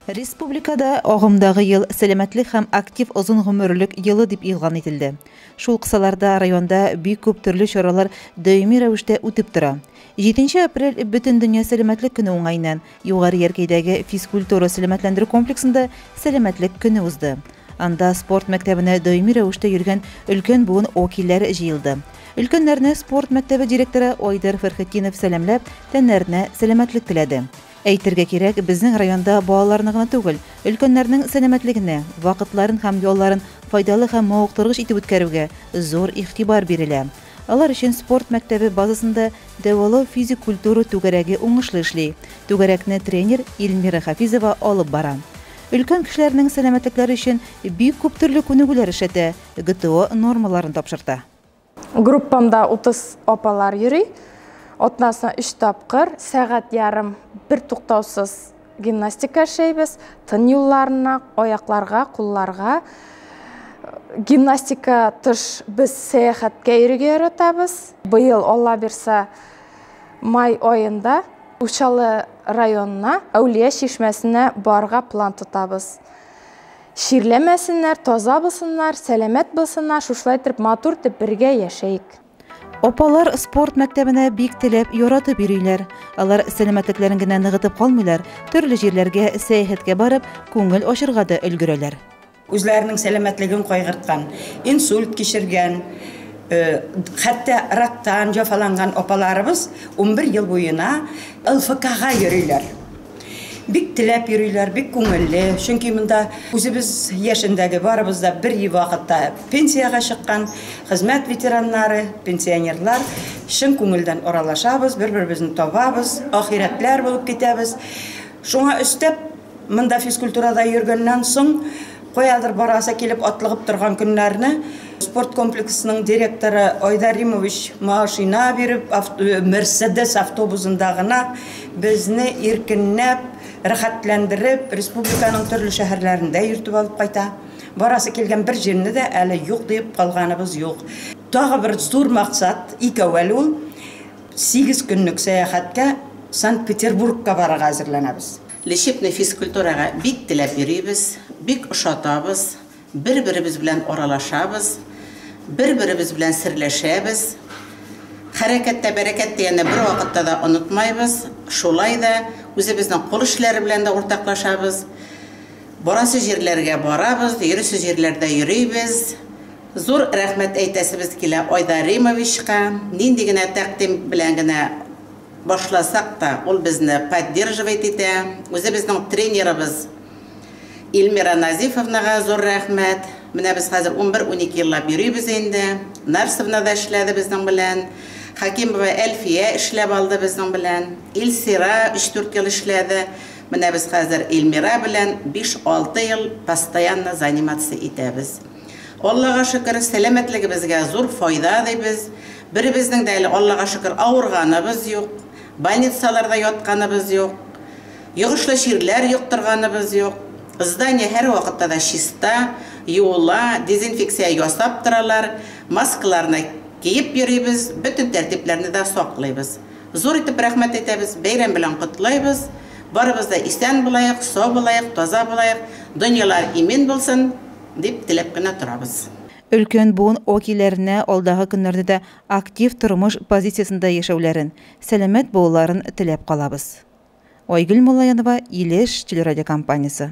Республикада агымдагы ел сәламәтлек һәм актив озын гомерлек елы дип игълан ителде. Шул кысаларда районда бик күп төрле чаралар даими рәвештә үтеп тора. 7 апрель бөтен дөнья сәламәтлек көне уңаеннан Югары Яркәйдәге физкультура-сәламәтләндерү комплексында Сәламәтлек көне узды. Анда спорт мәктәбенә даими рәвештә йөргән өлкән буын вәкилләре җыелды. Өлкәннәрне спорт мәктәбе директоры Айдар Фәрхетдинов сәламләп, тәннәренә сәламәтлек теләде. Әйтергә кирәк, безнең районда балаларны гына түгел, өлкәннәрнең сәламәтлегенә, вакытларын һәм ялларын файдалы һәм мавыктыргыч итеп үткәрүгә зур игътибар бирелә. Алар өчен спорт мәктәбе базасында дәвалау физик культура түгәрәге уңышлы эшли. Түгәрәкне тренер Ильмира Хафизова алып бара. Өлкән кешеләрнең сәламәтлекләре өчен бик күп төрле күнегүләр эшләтә, ГТО нормаларын тапшырта. Группамда 30 апалар йөри. Атнасына өч тапкыр, сәгать ярым бертуктаусыз Гимнастика эшләйбез, тын юлларына, аякларга, кулларга. Гимнастика тыш без сәяхәткә йөрергә яратабыз. Быел Алла бирса, май аенда Учалы районына Әүлия чишмәсенә барырга план тотабыз. Чирләмәсеннәр, таза булсыннар, сәламәт булсыннар, шушылай итеп матур итеп бергә яшәик. Апалар спорт мәктәбенә бик теләп, яратып йөриләр. Алар сәламәтлекләрен генә ныгытып калмыйлар, төрле җирләргә сәяхәткә барып, күңел ачырга да өлгерәләр. Үзләренең сәламәтлеген кайгырткан, инсульт кичергән, хәтта рактан җәфаланган апаларыбыз унбер ел буена ЛФКга йөриләр. Бик теләп йөриләр, бик күңелле, чөнки монда үзебез яшендәге, барыбыз да бер вакытта пенсиягә чыккан хезмәт ветераннары, пенсионерлар, чын күңелдән аралашабыз, бер-беребезне табабыз, ахирәтләр булып китәбез. Шуңа өстәп, монда физкультурада йөргәннән соң, Каядыр барасы килеп атлыгып торган көннәрне спорт комплексының директоры Айдар Римович машина биреп, Мерседес автобусында гына безне иркенләп, рәхәтләндереп, республиканың төрле шәһәрләрендә йөртеп алып кайта. Барасы килгән бер җирне дә әле юк диеп калганыбыз юк. Тагы бер зур максат, икәү әле ул, сигез көнлек сәяхәткә Санкт-Петербургка барырга әзерләнәбез. Лечебный физкультурага бик теләп йөрибез, бик ошатабыз, бер-беребез белән аралашабыз, бер-беребез белән серләшәбез. Хәрәкәттә бәрәкәт дигәнне бервакытта да онытмайбыз. Шулай да үзебезнең кул эшләре белән дә уртаклашабыз. Барасы җирләргә барабыз, йөрисе җирләрдә йөрибез. Зур рәхмәт әйтәсебез килә Айдар Римовичка. Нинди генә тәкъдим белән генә башласак та, ул безне поддерживать итә. Үзебезнең тренерыбыз Ильмира Назифовнага зур рәхмәт. Менә без хәзер унбер-унике еллап йөрибез инде. Нарсовна да эшләде безнең белән. Хәкимова Әлфия эшләп алды безнең белән. Илсира өч-дүрт ел эшләде. Менә без хәзер Ильмира белән биш-алты ел постоянно заниматься итәбез. Аллага шөкер, сәламәтлегебезгә зур файда дибез. Беребезнең дә әле, Аллага шөкер, авырганыбыз юк, больницаларда ятканыбыз юк, йогышлы чирләр йоктырганыбыз юк. Здание һәрвакытта да чиста, юыла, дезинфекция ясап торалар, маскаларны киеп йөрибез, бөтен тәртипләрне дә саклыйбыз. Зур итеп рәхмәт әйтәбез, бәйрәм белән котлыйбыз. Барыбыз да исән булаек, сау булаек, таза булаек, дөньялар имин булсын! Дип теләп кенә торабыз. Өлкән буын вәкилләренә алдагы көннәрдә дә актив тормыш позициясендә яшәүләрен, сәламәт булуларын теләп калабыз. Айгөл Муллаянова, Илеш телерадиокомпаниясе.